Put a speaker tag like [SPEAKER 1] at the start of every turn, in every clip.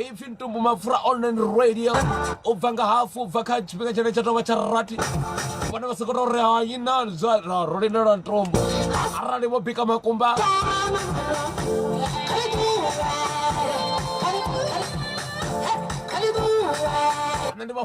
[SPEAKER 1] ipfi ntumbu mapfura online radio u bva nga hafu u bva kha tshifhinga tshine tsha tovha tsha rati vhone vha sokoto ri hayi na zwa ra- ro lindela ntumbu arali vho bika makumba nṋe ndi vha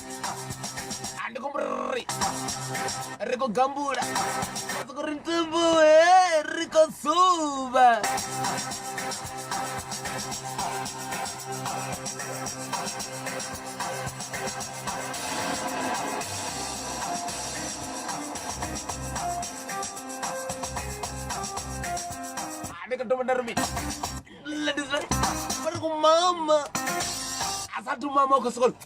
[SPEAKER 1] Ah, ndi khou ri ri khou gambula ra sokou ri ntumbuhe ri khou suva ndi khou thoma nda ri mini ladies ri khou mama a sa thu mama u khou sokou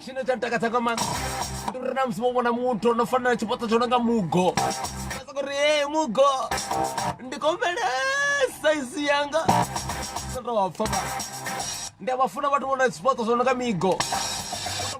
[SPEAKER 1] tshine tsha takadza nga maanḓa ndi uri na musi vho vhona muthu ono fana na tshifhaṱo tsho no nga mugo uri e mugo ndi kombele saizi yanga ndi a vha funa vhathu vhona tshifhaṱo tsho no nga migo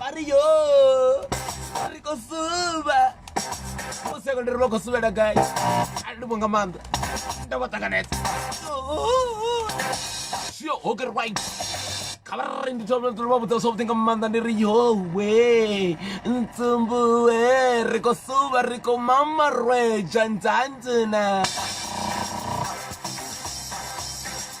[SPEAKER 1] Mario ri khou suvha musi a konderi vha khou suvhela gai a ndi vho nga maanḓa nda vha ṱanganedza shio hoker right khabarari ndi thoma ndi vha vhudza zwavhuḓi nga maanḓa ndi ri yowe ntsumbuwe ri khou suvha ri khou mama rweja ndzandzina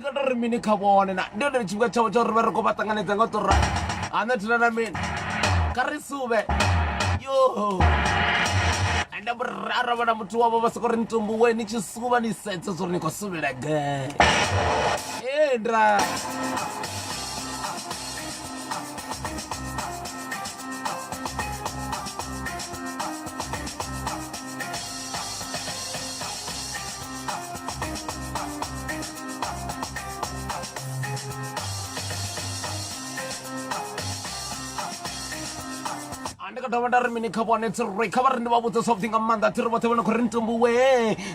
[SPEAKER 1] kota ri mini kha vhone na ndi hone tshifhinga tshavho tsha uri vha ri khou vha ṱanganedza nga u tora hana thina na mini kha ri suvhe yo ende ara vhona muthu wavho vha soko ri ni tumbuwe ni tshi suvha ni sedze zwa uri ni khou suvhela gai endra dovha nda ri mini kha vhone tsiroi kha vha ri ndi vha vhudze zwavhuḓi nga maanḓa thi ri vhoṱhe vhone khou ri ntumbuwe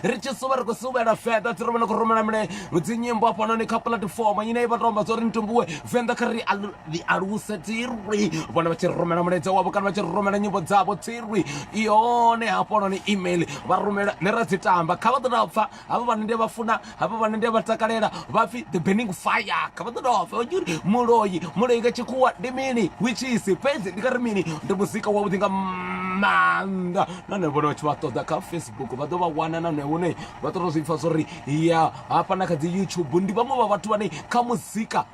[SPEAKER 1] ri tshi suvha ri khou suvhela feda thi ri vhone khou rumela mine dzinyimbo hafhanoni kha puḽatifomo ine i vha tou amba zwa uri ntumbuwe venḓa kha ri ḽi aluse tsirwi vhone vha tshi rumela mulaedza wavho kana vha tshi rumela nyimbo dzavho tsirwi yone hafholoni email vha rumela ne ra dzi tamba kha vha ḓo dovha pfha havha vhane ndi vha funa havha vhane ndi vha takalela vha pfhi the burning fire kha vha ḓo dovha pfha vhatshi uri muloyi muloyi nga tshikhuwa ndi mini witchisi fhedzi ndi nga ri mini ndi muzika wavhuḓi nga maanḓa nahone vhone vhatshi vha ṱoḓa kha facebook vha ḓo vha wana nahone hune vha ṱoḓa zwi pfha zwo ri ya hafha na kha dzi youtube ndi vhaṅwe vha vhathu vhane kha muzika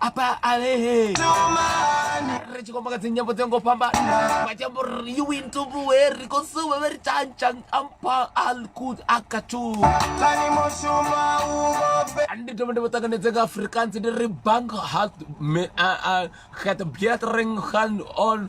[SPEAKER 1] apa alehe ri tshi khou maka dzinyambo dzi ngo fhambana vha tshi amba uri you win to buwe ri khou suwe vhe ri tshantshang ampa alkud akatu ndi thoma ndi vho ṱanganedze nga afrikaans ndi ri bank hat me a a het beatring gaan on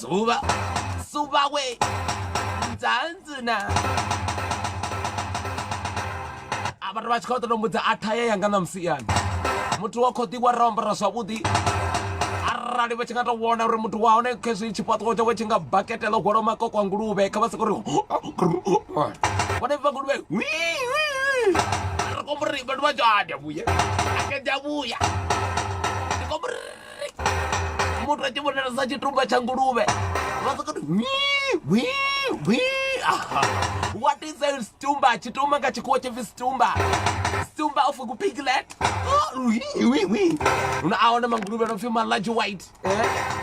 [SPEAKER 1] Zuva, zuva we, nzanzi na. Abantu vha tshi khou ṱoḓa mbudza a thaya yanga na musiani. Muthu wa khou ḓi wa rombora zwavhuḓi. Arali vha tshi nga tou vhona uri muthu wa hone khezwi tshifhaṱuwo tshawe tshi nga bakete ḽo hwalaho makoko a nguluvhe kha vha soko ri vhone vha nguluvhe ri kombori vhathu vha dzhada vhuya akeda vhuya muthu a tshi vhonala sa tshitumba tsha nguluvhe vha soko what is a stumba tshitumba nga tshikhuwa tshipfi stumba stumba of ku piglet una a hone manguluvhe no pfi ma large white eh?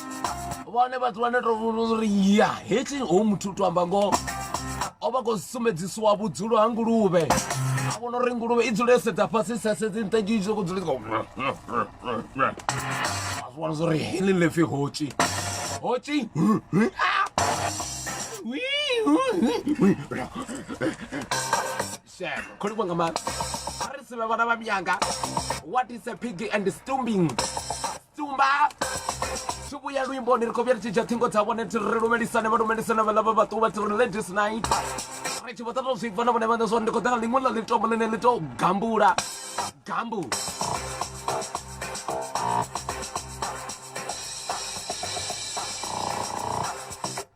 [SPEAKER 1] vhone vhathu vhane to uri ya hetshi ho muthu u to amba ngoho o vha khou sumbedzisiwa vhudzulo ha nguluvhe a vhona uri nguluvhe i dzule sedza fhasi sasedzi nṱha dzii zwi khou dzule vhona zwa uri heḽi ḽepfi hotshi hotshi shema kholi kwanga ma a ri sivhe vhana vha myanga what is a piggy and stumbing tumba tshi vhuya luimboni ri khou vhuya ri tshi dzhia ṱhingo dza vhone thi ri lumelisane vha lumelisane vhaḽa vha vhaṱuwa thi ri ladies night ri tshi vho ṱato zwi bva na vhone vhane zwori ndi khou ḓa nga ḽiṅwe ḽa ḽitombo ḽine ḽi tou gambula gambu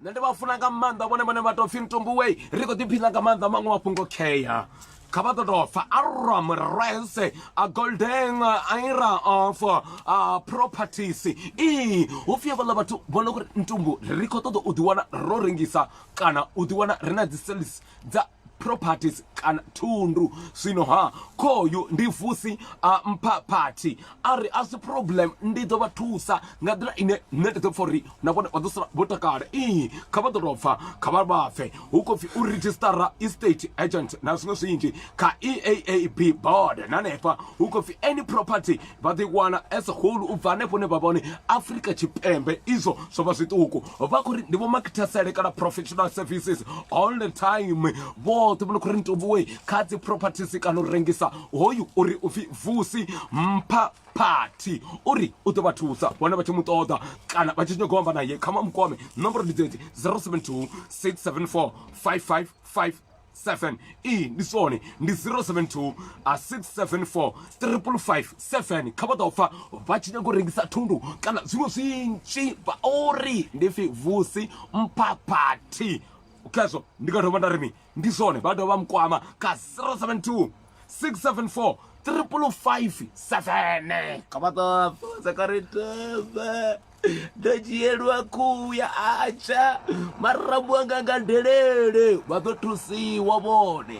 [SPEAKER 1] nṋe ndi vha funa nga maanḓa vhone vhane vha tou pfhi ntumbuwei ri khou ḓiphiṋa nga maanḓa maṅwe mafhungo khea Kha vha ḓo tou fa Aram Rese a Golden Ira of a Properties i hu pfi havhaḽa vhathu vho no kuri ntumbu ri khou ṱoḓa u ḓiwana ro rengisa kana u ḓiwana ri na dzi sales dza properties kana thundu zwino ha khoyu ndi vusi a mpha party a ri a si problem ndi ḓo vha thusa nga nḓila ine nṋe ndi ḓo pfha uri na vhone vha ḓo sala vho takala ii kha vha ḓo tou pfa kha vha vha pfe hu khou pfi u redzhistara estate agent na zwiṅwe zwinzhi kha eaab board na hanefha hu khou pfi any property vha ḓo i wana as whole u bva hanefho hune vha vha hone afrika tshipembe izwo zwo vha zwiṱuku vha khou ri ndi vho makithesele kana professional services all the time vhoṱhe vho no khou ri ntovhuwe kha dzi properties kana u rengisa hoyu uri u pfi vusi mpha party uri u ḓo vha thusa vhone vha tshi mu ṱoḓa kana vha tshi nyago amba naye kha mamukwame nomboro ndi dzedzi 072 674 5557 iyi ndi sone ndi 072 674 557 kha vha ḓo pfa vha tshi nyago rengisa thundu kana zwiṅwe zwinzhi vha uri ndi pfi vusi mpha party khezwo ndi nga thoma nda ri mi ndi zwone vha dovha vha mukwama ka 072 674 triple five seven ka vha ṱoḓa ka ri tebe ndo dzhielwa khuhu ya atsha marambo anga nga delele vha ḓo thusiwa vhone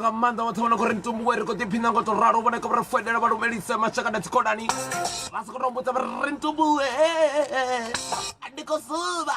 [SPEAKER 1] nga maanḓa vhoṱhe vhona khori mitumbu we ri khou ḓiphina ngo to ralo vhone kho ri foinela vha lumelise mashaka na dzikhonani vha si khou to mbudza vha ri mitumbu ndi khou suva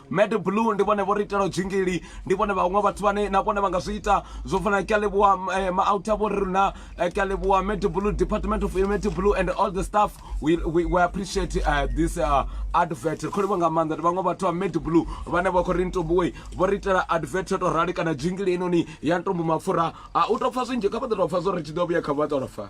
[SPEAKER 1] Mad Blue ndi vhone vho ri itelaho dzingili ndi vhone vhaṅwe vhathu vhane na vhone vha nga zwi ita zwo fana na Kyaleboa eh, Maauta vho ri na eh, Kyaleboa Mad Blue Department of Mad Blue and all the staff we, we, we appreciate uh, this uh, advert ri khou livha nga maanḓa ndi vhaṅwe vhathu vha Mad Blue vhane vha khou ri ntombuwe vho ri itela advert yo tou rali kana dzingili inoni ya ntombo mapfura a u tou pfa zwinzhi kha vha ḓo tou pfa zwo ri tshi ḓo vhuya kha vha tou fa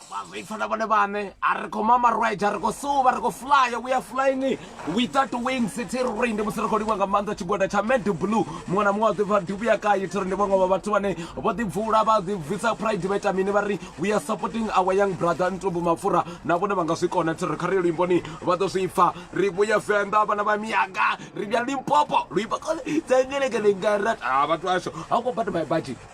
[SPEAKER 2] vhazoipfa
[SPEAKER 1] na vhone vhaṋe a ri khou mama ride a ri khou suva ri khou flyer we are flying without wings thi ri ndi musi ri khou livha nga maanḓa tshigwada tsha mad blue muṅwe na muṅwe wa ḓipfa dubu ya kayi thi ri ndi vhaṅwe vha vhathu vhane vho ḓibvula vha ḓibvisa pride vha ita mini vha ri we are supporting our young brother ntumbu mapfura na vhone vha nga zwi kona thi ri kha ri yo luimboni vha ḓo zwi pfa ri vhuya venḓa vhana vha miyaga ri vhuya limpopo luimba kole tsengelekele ngarat a vhathu asho how about my budget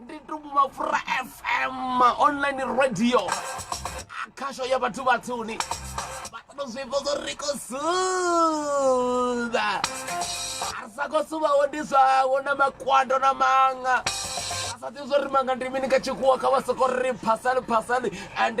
[SPEAKER 1] ndi tumbu mapfura fm online radio khasho ya vhathu vhatsuni vhato zwivhoko ri khou suba a ri sa khou subaho ndi zwawo na makwando na maṅa a sa ḓivhi zwo ri maṅa ndi mini kha tshikhuwa kha vha soko ri phasali phasali and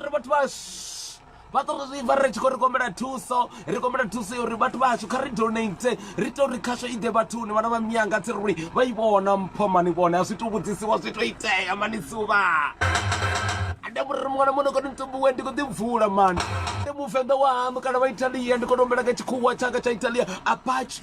[SPEAKER 1] ri vhathu vha vha to ri vha ri tshi khou ri kombela thuso ri kombela thuso yo uri vhathu vhashu kha ri donate ri to ri khasho i ḓe vhathuni vhana vha miyanga tsi ri vha i vhona mpho mani vhone a zwi to vhudzisiwa zwi to itea mani suvha ande muri muṅwe na muṅwe ndi kone ntumbuwe ndi kho ḓi bvula mani ndi muvenḓa wa haṋu kana vha italiya ndi kone u humbela nga tshikhuwa tshanga tsha italiya apache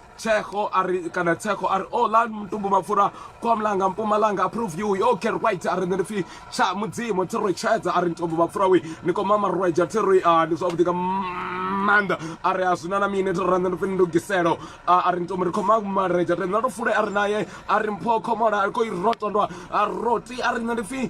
[SPEAKER 1] Tshego a ri kana Tshego a ri o oh, la mutumbu mapfura kwa mulanga mpumalanga approve you yo care right a ri nṋe ndi pfi tsha mudzimu thi ri tshedza a ri mutumbu mapfura we ni koma marweja thi ri ah, ndi zwavhuḓi nga maanḓa a ri a zwina na mini thi ri nṋe ndi pfi ndugiselo ah, a ri mutumbu ri khoma mareja ri nṋe ndo fule a ri naye a ri mpho khomola a ri koi rotondwa a roti a ri nṋe ndi pfi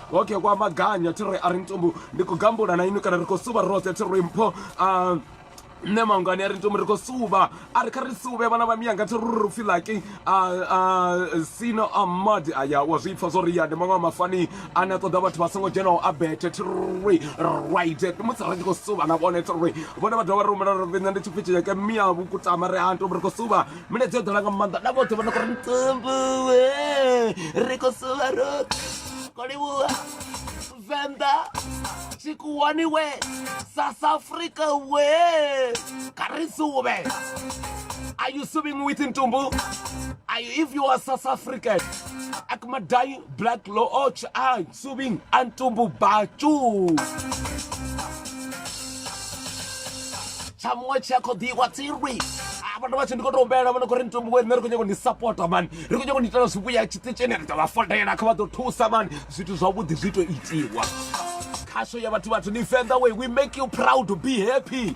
[SPEAKER 1] Ok, kwa maganya thi ri a ri ntumbu ndi khou gambula na inwi kana ri khou suvha roṱhe thi ri mpho ah, nṋe mangani a ri ntumbu ri khou suvha a ri kha ri suvhe vhana vha miyanga thi ri ri pfhi laki sino a madi aya wa zwi pfa zwo ri ya ndi maṅwe a mafani ane a ṱoḓa vhathu vha songo dzhenaho a bethe thi ri right musi ri tshi khou suvha na vhone thi ri vhone vha dovha vha rumela ri nṋe ndi tshipfi tshiyeke miya vhukutama ri ha ntumbu ri khou suvha milaedza yo ḓala nga maanḓa na vhoṱhe vha no kho ri ntsumbuwe ri khou suva ro khou livhuwa venḓa tshikuwani we south africa we kha ri suvhe are you suving with ntumbu are you if you are south african akumadai black looch ai Subing antumbu bacu. tsha muṅwe tshi a kho ḓiwa tsirwi vhathu vhatshi ndi khou tou humbela vhona khou ri ntombo we nṋe ri khou nyanga u ni sapota mani ri khou nyanga u ni itela zwivhuya tshiṱitshini ri ḓo vha fodela kha vha ḓo thusa mani zwithu zwavhuḓi zwi tou itiwa khasho ya vhathu vhathu ni venḓa way we make you proud to be happy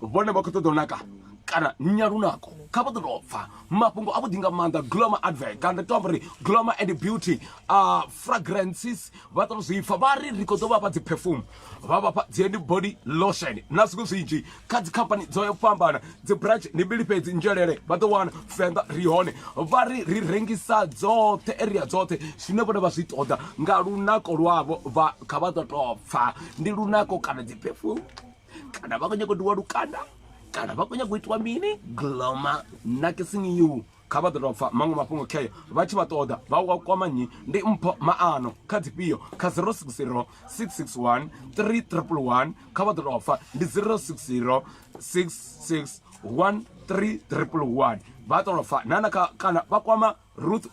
[SPEAKER 1] vhone vha khou ṱoḓa u naka kana nya lunako kha vha ḓo tou pfa mafhungo a vhuḓi nga maanḓa gloma advert kana ndi tou amba uri gloma and beauty uh, fragrances vha ṱoḓa zwi pfa vha ri ri khou ḓo vha fha dzi perfume vha vha fha dzi and body lotion na zwiṅwe zwinzhi kha dzi company dzo ya fhambana dzi branch ndi mbili fhedzi nzhelele vha ḓo wana fenda ri hone vha ri ri rengisa dzoṱhe area dzoṱhe zwine vhone vha zwi ṱoḓa nga lunako lwavho vha kha vha ḓo tou pfa ndi lunako kana dzi perfume kana vha khou nyanga u diwa lukanda kana vha khou nyanga u itiwa mini gloma nakising you kha vha ḓo tou pfa maṅwe mafhungo kheyo vha tshi vha ṱoḓa vha wa kwama nnyi ndi mpho maano kha dzifhio kha 060 661 311 kha vha ḓo tou pfa ndi 060 661 311 vha ṱo tou pfa nana kana vha kwama ruth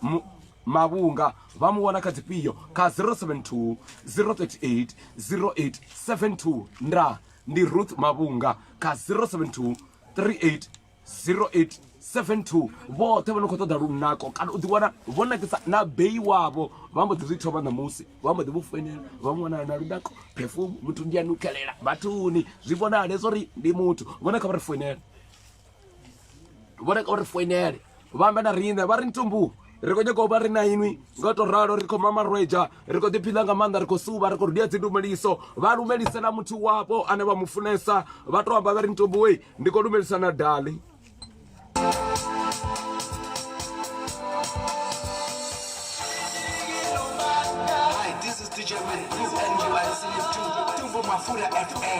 [SPEAKER 1] mavhunga vha mu wana kha dzifhio kha 072 038 0872 nda ndi ruth mavhunga kha 072 38 0872 vhoṱhe vho no khou ṱoḓa lunako kana u ḓiwana vho nakisa na beyi wavho vha mbo ḓi zwi thoma ṋamusi vha mbo ḓi vho foinela vha mu wanala na lunako perfume muthu ndi a nukelela vhathuni zwi vhonale zwo ri ndi muthu vhone kha vha ri foinela vho reka uri foinele vha amba na riṋe vha ri ntumbu ri khou nyaka u vha ri na inwi nga to ralo ri khou mamarweja ri khou ḓiphila nga maanḓa ri khou suvha ri khou rudia dzindumeliso vha lumelisela muthu wapo ane vha mu funesa vha to amba vha ri ntomboe ndi khou lumelisa na dali Hi, this
[SPEAKER 3] is DJ Mike. Please enjoy listening to Tumbo Mafura FM.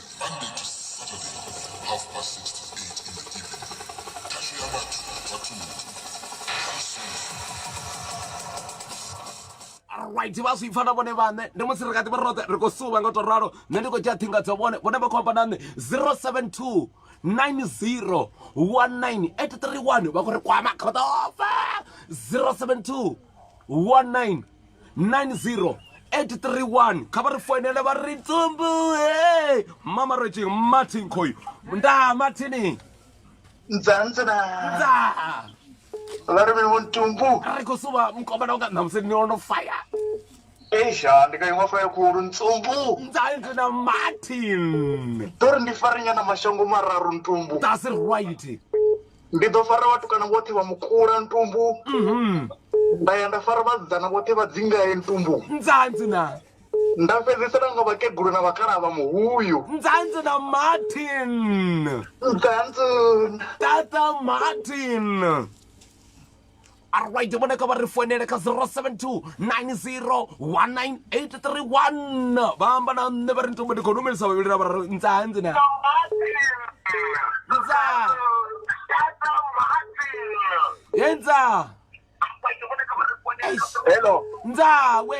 [SPEAKER 2] Monday to Saturday, half past six to eight in the
[SPEAKER 1] evening. Tashu ya vhathu vha thundu. right vha zwi pfa na vhone vhaṋe ndi musi ri kha ḓi vha roṱhe ri khou suva nga u tou ralo nṋe ndi khou dzhia ṱhinga dzo vhone vhone vha khou amba na nṋe 072 90 19 831 vha khou ri kwama kha vha ḓa ofe 072 19 90 831 kha vha ri foinele vha ri tsumbu he mama ro tshi martin khoyu nda martin nzanzana nda
[SPEAKER 4] vha ri vhe vuntumbu ri khou suva mukomana
[SPEAKER 1] unga ṋamusi ni ono faya esha
[SPEAKER 4] ndi ka iṅwe faya khulu ntsumbu nzanzi na
[SPEAKER 1] martin ḓo ri ndi farinyana
[SPEAKER 4] mashango mararu ntumbu that's right
[SPEAKER 1] ndi ḓo
[SPEAKER 4] fara vhatukana vhoṱhe vha mukula ntumbu mhm. nda ya nda fara vhasidzana vhoṱhe vha dzingaye ntumbu nzanzi na
[SPEAKER 1] nda fhedzisela
[SPEAKER 4] nga vhakegulu na vhakalaha vha muhuyu nzanzi na
[SPEAKER 1] martin nzanzi
[SPEAKER 4] tata
[SPEAKER 1] martin arwide vhone kha vha ri founele kha 072 90 19831 vha amba na nṋe vha ri ntombo ndi khou lumelisa vhavhili ra vha ri ntsa hanzi na ntsa ye ntsa Eish.
[SPEAKER 4] hello ntsa we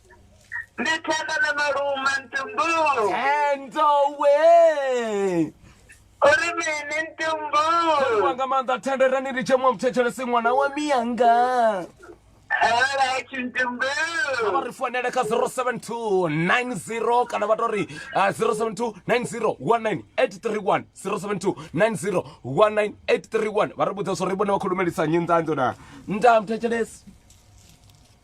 [SPEAKER 1] ndithanda
[SPEAKER 5] na maluma ntumbu endowe
[SPEAKER 1] uri
[SPEAKER 5] mini ntumbu wa nga maanḓa
[SPEAKER 1] thenderani ri tshemwa muthetshelesi ṅwana wa miyanga
[SPEAKER 5] alright ntumbu vha ri founele
[SPEAKER 1] kha 07290 kana vha to ri uh, 0729019831072901983 072901983 vha ri vhudza zwo ri vhone vha khou lumelisa nyi nḓanḓo na nda muthetshelesi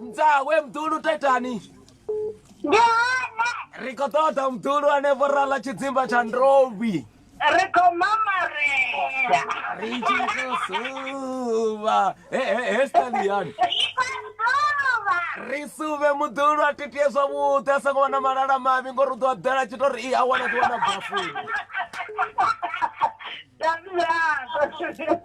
[SPEAKER 1] mdzawe mdulu taitani ndi one
[SPEAKER 6] ri khou ṱoḓa mdulu ane
[SPEAKER 1] vho rala tshidzimba tsha ndovhi ri khou
[SPEAKER 6] mamaria ri tshi khou suvha
[SPEAKER 1] He- he- he stani yani ri khou suvha ri suvhe muḓulu a titie zwavhuḓi a songo wana malala mavhi ngori u ḓo a ḓela tshi to ri i a wana ḓi wana bafuni That's right.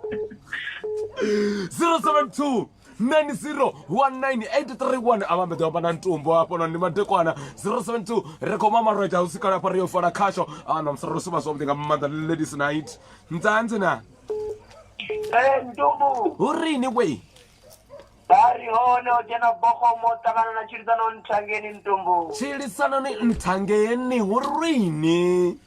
[SPEAKER 1] 072 9019831 a vhambeḓe vha na ntumbo hafho no ndi madekwana 072 ri khou ma malwadze a usikala hafha ri yo fola khasho a na musara ro suma zwavhuḓi nga maanḓa ladies night ndzanzi na eh, ntumbu
[SPEAKER 6] hu rini wei
[SPEAKER 1] bari
[SPEAKER 6] hone o dzhena bogomo ṱangana na tshilisano nthangeni ntumbu tshilisano ni
[SPEAKER 1] nthangeni hu rini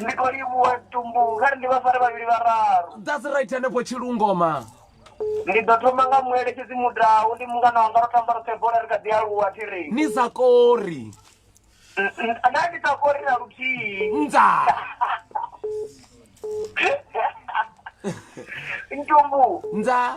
[SPEAKER 1] ndi khou
[SPEAKER 6] livhuwa tumbu kha ri ndi vhafari vhavhili vhararu that's right hanefho
[SPEAKER 1] tshilungoma ndi ḓo
[SPEAKER 6] thoma nga mueletshedzi mudau ndi mungana wanga ro tamba roṱhe bola ri kha ḓi aluwa thi ri ni sa kori
[SPEAKER 1] N-
[SPEAKER 6] n- na ndi sa kori na luthihi nza ntumbu nza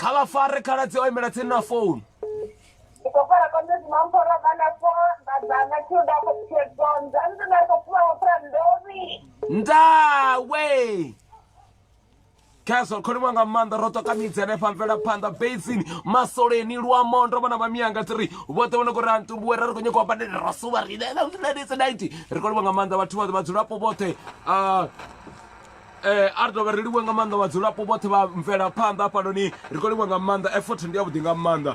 [SPEAKER 1] kha vha fare khaladzi o imela tsini na
[SPEAKER 6] founu ndawe
[SPEAKER 1] khezwo kholiwa nga maanḓa ro toka midzi hanefha mvelaphanḓa basini masoleni luamo ndo vhona vhamianga tiri vhoṱhe vhone kuri antumbuwe ra ri khou nyoko badele ro suva rinenaiti ri kholiwa nga maanḓa vhathu vhoṱhe vhadzulapo vhoṱhe um eh a ri dovha ri livhuwe nga maanḓa vhadzulapo vhoṱhe vha mvelaphanḓa hafhanoni ri khou livhuwa nga maanḓa effort ndi yavhuḓi nga maanḓa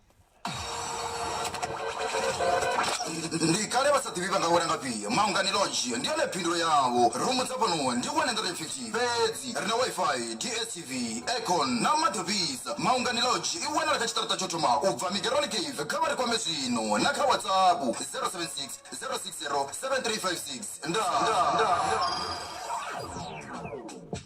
[SPEAKER 7] ndi kale vha sa ḓivhi vha nga wela nga pia maungani lonzhi ndi yone phindulo yavho rumu dza fhano ndi 150 fhedzi ri na wifi dstv econ na maḓi ofhisa maungani lodge i wanala kha tshiṱaraṱa tsho thoma u bva migeroni cave kha vha ri kwame zwino na kha whatsapp 076 060 7356 ndaa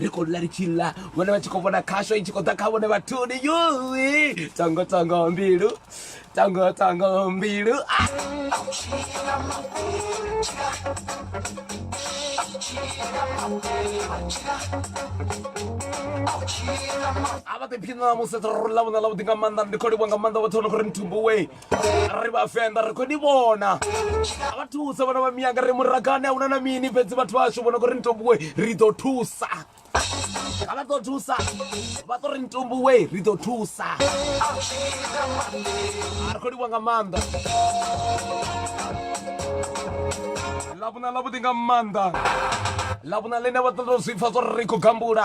[SPEAKER 1] ri khou ḽa ri tshi ḽa vhone vha tshi khou vhona khasho i tshi khou ḓa kha vhone vhathuni yoi tongo tongo mbilu tongo tongo mbilu ah! a vha ḓiphiṋa musi ro ḽa vhona ḽavhuḓi nga maanḓa ndi khou livha nga maanḓa vhoṱhe vho no khou ri nthubuwe ri vhavenḓa ri khou ni vhona a vha thusa vhana vha miyanga ri muragane a una na mini fhedzi vhathu vhashu vhona kho ri nitombuwe ri ḓo thusa a vha ḓo thusa vha ḓo ri nitombuwe ri ḓo thusa a ri khou livha nga maanḓa ḽavhuna ḽavhuḓi nga maanḓa ḽavhuna ḽine vha ḓo tou zwi pfa zwo ri ri khou gambula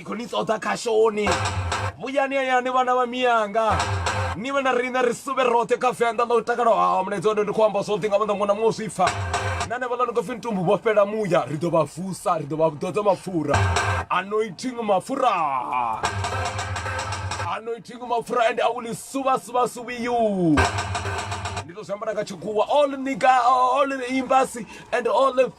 [SPEAKER 1] ndi khou ni ṱoḓa khashoni vhuyani hayani vhana vha miyanga ni vhe na riṋe ri suvhe roṱhe kha venḓa ḽa u takala hawo mulaedza one ndi khou amba zwoṱhe nga maanḓa ngona muṅwe zwi pfa na ne vhaḽa ni khou pfi ntumbu vho fhela muya ri ḓo vha vusa ri ḓo vha ḓodza mapfura anointing mapfura anointing mapfura and i will suva suva suvi you ndi to zwi ambara nga tshikhuwa all nigga all imbasi and all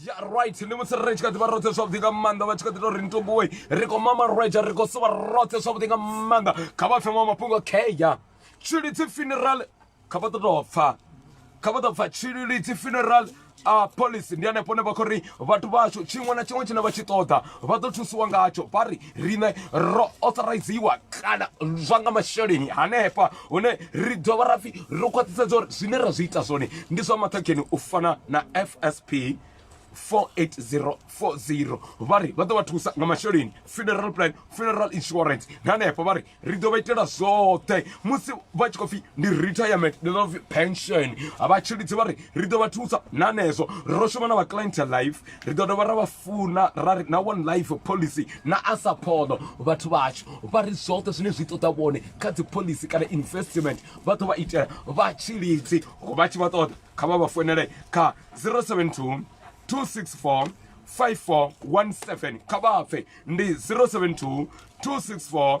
[SPEAKER 1] ya right ni musi ri tshi kha ḓi vha roṱhe zwavhuḓi nga maanḓa vha tshi kha ḓi to ri ntombowe ri khou mama rwetsha ri khou suvha roṱhe zwavhuḓi nga maanḓa kha vha pfhe maṅwe mafhungo kheya tshilidzi funeral kha vha ḓo tou pfha kha vha ḓo pfha tshilidzi funeral a policy ndi hanefho ne vha khou ri vhathu vhashu tshiṅwe na tshiṅwe tshine vha tshi ṱoḓa vha ḓo thusiwa ngatsho vha ri riṋe ro authoriziwa kana zwa nga masheleni hanefha hune ri dovha ra pfhi ro khwaṱhisedza uri zwine ra zwi ita zwone ndi zwa maṱhakheni u fana na fsp 48040 vha ri vha ḓo vha thusa nga masheleni funeral plan funeral insurance na hanefho vha ri ri ḓo vha itela zwoṱhe musi vha tshi khou pfhi ndi retirement ndi ḓo pfhi pension vhatshilidzi vha ri ri ḓo vha thusa na hanezwo ro shuma na vha client life ri ḓo dovha ra vha funa ra ri na one life policy na a saphono vhathu vhashu vha ri zwoṱhe zwine zwi ṱoḓa vhone kha dzi policy kana investment vha ḓo vha itela vha tshilidzi vha tshi vha ṱoḓa kha vha vha founele kha 072 264 5417 kha vha pfe ndi 072 264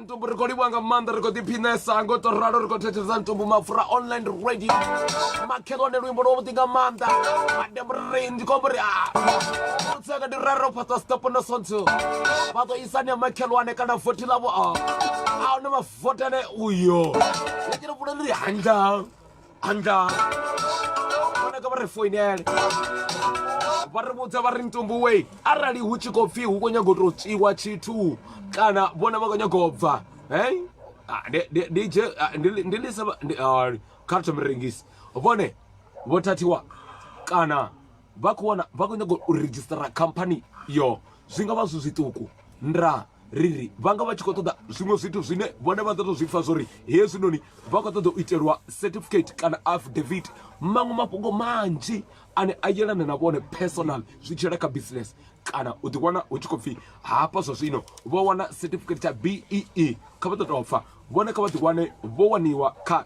[SPEAKER 1] mutumbu ri khou livhuwa nga maanḓa ri khou ḓiphinesa ngo to ralo ri khou thetshelesa mutumbu mapfura online radio makhelwane luimbo lwo vhuḓi nga maanḓa mademri ndi khombo ri utseka ndi rero fhaṱa stop no sonthu vha ḓo isani ya makhelwane kana vothi ḽavho a ahune mavotane uyo lekele vhuleni ri hanga andla fanaka vha ri foinele vha ri vhudza vha ri ntumbuwe arali hu tshi khou pfhi hu khou nyaga u tou tswiwa tshithu kana vhona vha khou nyaga u bva he ndi lisa kha ri thome rengisi vhone vho thathiwa kana vha khou wana vha khou nyanga u redzhisitara khamphani yo zwi nga vha zwi zwiṱuku nda riri vha nga vha tshi khou ṱoḓa zwiṅwe zwithu zwine vhone vha ḓo tou zwi pfha zwo ri hezwinoni vha khou ṱoḓa u itelwa certificate kana affidavit maṅwe mafhungo manzhi ane a yelana na vhone personal zwi tshela kha business kana u ḓi wana hu tshi khou pfhi hafha zwa zwino vho wana certificate tsha bee kha vha ḓo tou pfha vhone kha vha ḓi wane vho waniwa kha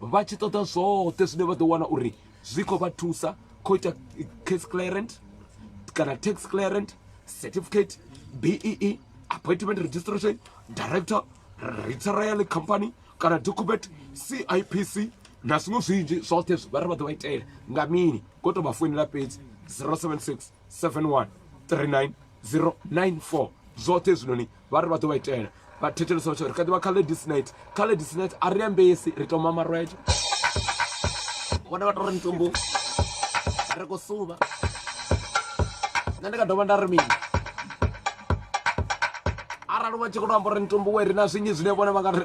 [SPEAKER 1] vha tshi ṱoḓa zwoṱhe zwine vha ḓo wana uri zwi khou vha thusa khou ita case clearant kana tax clearant certificate bee e, appointment registration director retirale company kana document cipc na zwiṅwe zwinzhi zwoṱhe zwi vha ri vha ḓo vha itela nga mini ko to vha foinela fhedzi 076 71 39 094 zwoṱhe hezwinoni vha ri vha ḓo vha itela vha thetshelesa vha tshi ri kha ḓivha kha ladies night kha ladies night a ri ambesi ri toma marwete vhone vha to ri mitumbu ri khou suvha nṋe ndi nga dovha nda ri mini arali vha tshi khou to amba uri mitumbu we ri na zwinyi zwine vhone vha nga ri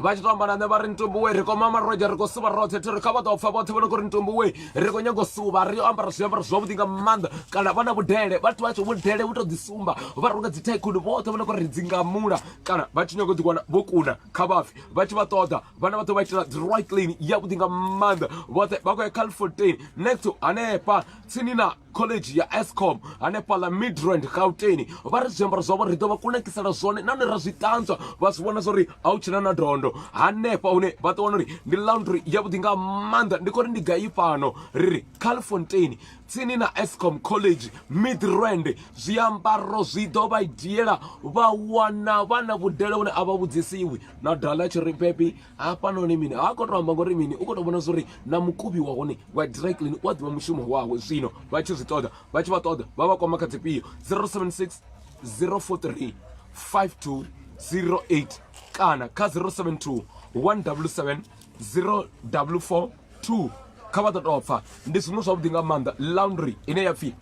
[SPEAKER 1] vha tshi to amba na nṋe vha ri ntumbuwe ri koma maroja ri khou suvha roṱhe thiri kha vha ḓo pfa vhoṱhe vho no kho ri ntumbuwe ri khou nyago suvha ri ambara zwiambaro zwavhuḓi nga maanḓa kana vha na vhudele vhathu vha tsho vhudele vhu to ḓisumba vha runga dzi thaikhuni vhoṱhe vho no kho ri dzingamula kana vha tshi nyago ḓiwana vho kuna kha vhafi vha tshi vha ṱoḓa vhana vha ḓo vha itela dry clean yavhuḓi nga maanḓa vhoṱhe vha khou ya calfourteen next to hanefha tsini na college ya escom hanefhaḽa midrand gauteni vha ri zwiambaro zwavho ri ḓo vha kunakisela zwone nahone ra zwi ṱanzwa vha zwi vhona zwori a u tshina na dondo hanefha hune vha ḓo wana uri ndi laundry yavhuḓi nga maanḓa ndi khou ri ndi gai fhano ri ri calfontein tsini na escom college midrand zwiambaro zwi ḓo vha dzhiela vha wana vha na vhudele vhune a vha vhudzisiwi na dala tshi ri bebi hafhanoni mini ha khou tou amba ngori mini u khou tou vhona zwa uri na mukubi wa hone wa dry clean u a ḓivha mushumo wawe zwino vha tshi zwi ṱoḓa vha tshi vha ṱoḓa vha vha kwama kha dzifhio 076 043 5208 kana kha 072 177 0442 kha vha ḓo tou pfa ndi zwiṅwe zwavhuḓi nga maanḓa laundry ine ya pfhi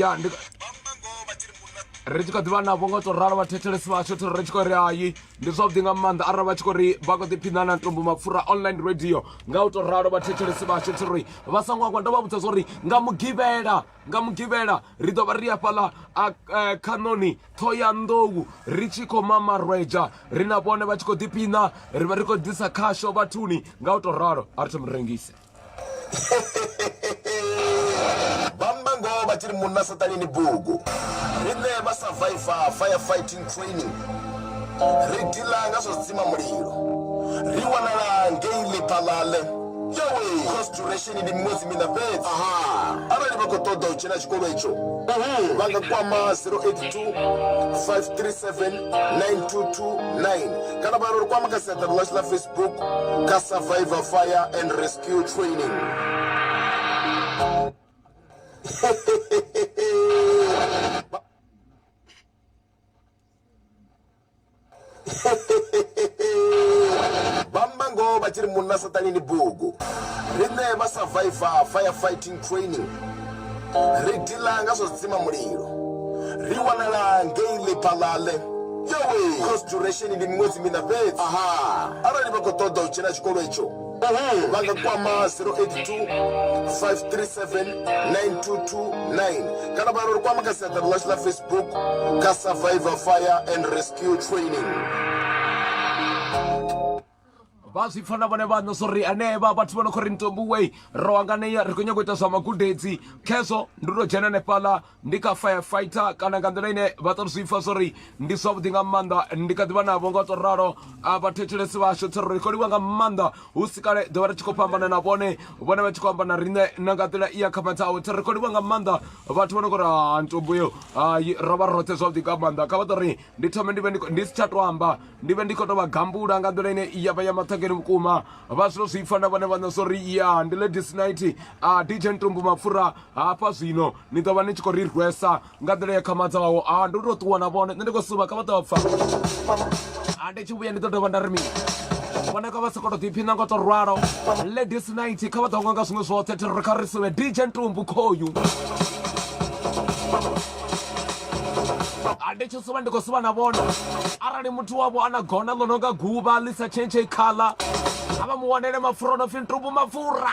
[SPEAKER 1] ya ndi ri tshi kha ḓivha navho nga u tou ralo vhathethelesi vhashu thiri ri tshi khou ri hayi ndi zwavhuḓi nga maanḓa arali vha tshi khou ri vha khou ḓiphiṋa na ntombo mapfura online radio nga u tou ralo vhathethelesi vhashu thiri vha songo angwa ndo vha vhudza zwa uri nga mugivhela nga mugivhela ri ḓo vha ri afhaḽa eh, khanoni ṱhoyanḓou ri tshi khou mamarwedzha ri na vhone vha tshi khou ḓiphina ri vha ri khou ḓisa khasho vhathuni nga u tou ralo a ri thomi rengise
[SPEAKER 8] vhamba ngoho vha tshi ri munna saṱani ni bugu riṋe vha survivor firefight Training. Ri dila nga zwa dzima mulilo. Ri wanala ngei Lephalale. Yowe! Course duration ndi miṅwedzi miṋa fhedzi. Aha! Arali vha khou ṱoḓa u dzhena tshikolo itsho, vha nga kwama 082 537 9229 kana vha ri kwama kha siaṱari ḽashu ḽa Facebook kha Survivor Fire and Rescue Training. vhamba ngoho vha tshi ri munna saṱani ni bugu riṋe vha survivor fire fighting training ri dila nga zwa dzima mulilo ri wanala ngei lephalale yowe course duration ndi miṅwedzi miṋa fhedzi arali vha khou ṱoḓa u dzhena tshikolo etsho Uhu vha nga kwama 082 537 9229 kana vha ri kwama kha siaṱari ḽashu ḽa facebook kha survivor fire and rescue training
[SPEAKER 1] vha zwi pfa na vhone vhaṋo so ri anevha vhathu vha no khou ri ntombuwei ro anganea ri khou nyanga u ita zwa magudedzi khezwo ndi to dzhena hanefhaḽa ndi kha firefighter kana nga nḓila ine vha ṱo zwi pfa zwo ri ndi zwavhuḓi nga maanḓa ndi kha ḓivha navho nga to ralo a vhathetshelesi vhashu tsho ri khou livha nga maanḓa hu si kale ḓo vha ri tshi khou fhambana na vhone vhone vha tshi khou amba na riṋe na nga nḓila i ya kha matsawe tsho ri khou livha nga maanḓa vhathu vho no kho ri ha ntomboyo hai ro vha roṱhe zwavhuḓi nga maanḓa kha vha ḓo ri ndi thome ndi vhe ndi si tsha to amba ndi vhe ndi khou tou vha gambula nga nḓila ine ya vha ya maṱhangeni vhukuma vha zwino zwi pfa na vhone vhaṋe zwo ri ya ndi ladies night a dj ntumbu mapfura hafha zwino ni ḓo vha ni tshi khou ri rwesa nga nḓila ya khamadzaho a ah, ndi tou ṱuwa na vhone nṋe ndi khou suba kha vha ḓo pfa a ah, ndi tshi vhuya ndi ḓo dovha nda ri mini vhone kha vha si koto ḓiphiṋa ngo to rwalo ladies night kha vha ḓo nga nga zwiṅwe zwoṱhe thirri kha ri sube dj ntumbu khoyu ndi tshi suba ndi khou suba na vhona arali muthu wavho a na gona ḽo no nga guvha ḽi sa tshentshe khaḽa a vha mu wanele mapfura o no pfhi ntumbu mapfura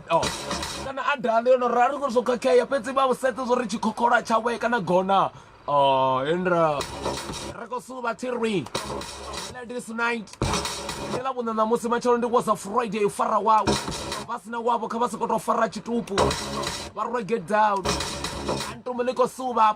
[SPEAKER 1] Oh. kana adala yo no rali ngori zwo khakhea fhedzi vha vhusedze zwo ri tshikhokhola tshawe kana gona oh, indra ri khou suvha thirwi ladies night ndi ḽa vhuṋa ṋamusi matshelo ndi was a friday u fara wawe vha sina wavho kha vha sokou tou fara tshitupu vha rwa get down antumu ḽi khou suvha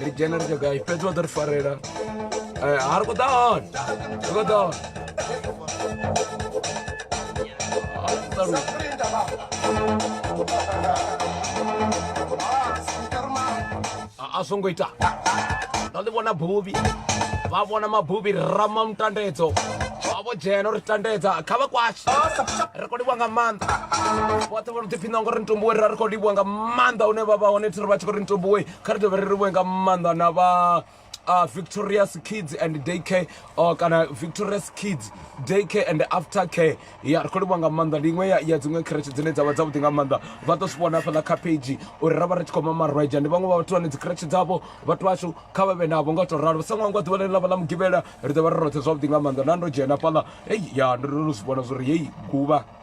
[SPEAKER 1] ri dzhena ri tshagayi fhedzi wa ḓo ri farela eh, a ri khou ḓa hone ri khou ḓa hone a zwo ngo ita ndo ḽi vhona buvhi vha vhona mabuvhi rama mutandedzo vho dzhena uri tandedza kha vha kwashe ri khou livhuwa nga maanḓa vhoṱhe vho no ḓiphiṋa ngori ntumbuwe ri ri khou livhuwa nga maanḓa une vha vha hone thi ri vha tshi khou ri ntumbuwe kha ri dovhe ri livhuwe nga maanḓa na vha uh, victorious kids and day care uh, kana victorious kids day care and after care ya ri khou livhuwa nga maanḓa ndi iṅwe ya, ya dziṅwe khereshe dzine dza vha dzavhuḓi nga maanḓa vha ḓo zwi vhona hafhaḽa kha page uri ra vha ri tshi khou mamarweja ndi vhaṅwe vha vhathu vhane dzi khereshe dzavho vhathu vhashu kha vha vhe navho nga u tou ralo sa ṅwangwa ḓuvha ḽine ḽa vha ḽa mugivhela ri ḓo vha ri roṱhe zwavhuḓi nga maanḓa na ndo dzhena hafhaḽa hei ya ndo ndo zwi vhona zwo ri hei guvha